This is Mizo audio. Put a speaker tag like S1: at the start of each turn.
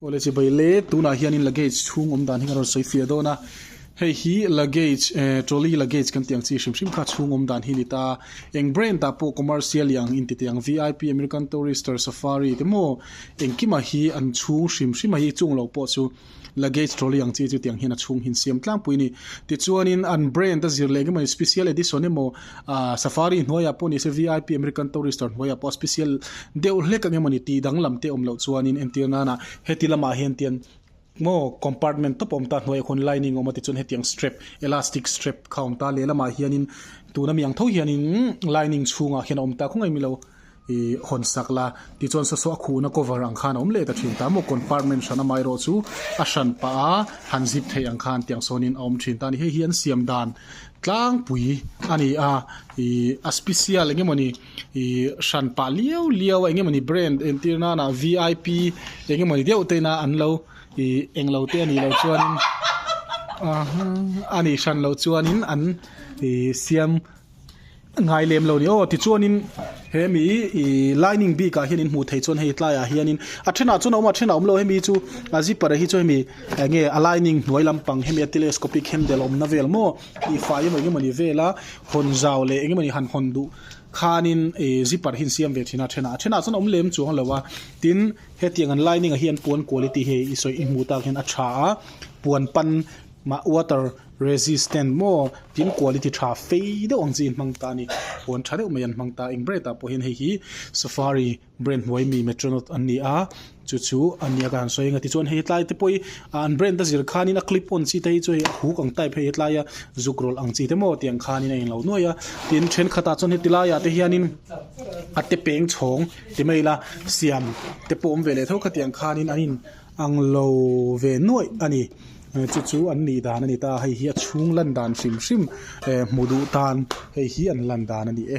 S1: College vei le tunah hianin luggage chhung awm dan hi kan rawn sawi fiah dawn a, hei hi luggage eh trolley luggage kan tih ang chi hrim hrim kha chhung awm dan hi a ni ta, eng brand ah pawh commercial iang in ti teh ang vip, American Tourister, Safari te maw engkim ah hi an chhung hrim hrim a, hi chung lo pawh chu luggage trolley ang chi chu tiang hian a chhung hin siam tlangpui a ni. Tichuanin an brand a zir leh engemaw special edition emaw. Ahh safari hnuaiah pawh nise vip American tourister hnuaiah pawh special deuh hlek ang emawni tih dang lam te awm loh chuanin entir nana heti lamah hian tian maw compartment tawp a awm ta hnuaia khawn lining a awm a tichuan hetiang strap elastic strap kha a awm ta lehlamah hianin tuna miang tho hianin lining chhungah hian a awm ta khawp mai milo. ih hawn sak la tichuan sasaw a khuhna cover ang khan a awm leh ta thin ta maw compartment hran amai erawh chu a hran pah a han zip theih ang khan tiang sawnin a awm thin ta a ni hei hi an siam dan tlangpui a ni a ih a special eng emawni ih hran pah liau liau a eng emawni brand en tir nana vip eng emawni deuh te ina an lo ih eng lo te a nih loh chuanin a nih hran loh chuanin an ih siam-- Ngai lem lo ni aw. Tichuanin he mi i lining bikah hian in hmuh theih chuan hei tlaiah hianin a thenah chuan a awm a, a thenah a awm lo. Hemi chu a zipper ah hi chu hemi eng nge a lining hnuai lampang hemi a telescopic hem del awmna vel maw tih fai emaw eng emawni vela hawn zau leh eng emawni han hawn duh khanin i zipper hi an siam ve thin a, a thenah. A thenah chuan a awm lem chuang lo a. Tin, hetiang an lining ah hi an puan kual i tih hi i sawi i hmuh tak hian a tha a, puan pan mah water. Resistant maw tin quality tha fei deuh ang chi in hmang ta a ni. Puan tha deuh mai an hmang ta, eng brand ah pawhin hei hi Safari brand hnuai mi Metronaut an ni a, chu chu a nia ka han sawi a nia. Tichuan hei tlai te pawhi ah an brand a zir khanin a clip on chi te hi chu hei a huk ang type hei hi tlaia zuk rawlh ang chi te maw tiang khanin a inlo nuai a. Tin thenkhat ah chuan heti laiah te hianin a te peng chhawng ti mai ila siam te pawm ve leh tho khatiang khanin an in-- Ang lo ve nuaih a ni. Chu chu an nih dan a ni ta, hei hi a chhung lan dan hrim hrim. Ehh hmu duh tan hei hi an lan dan a ni e.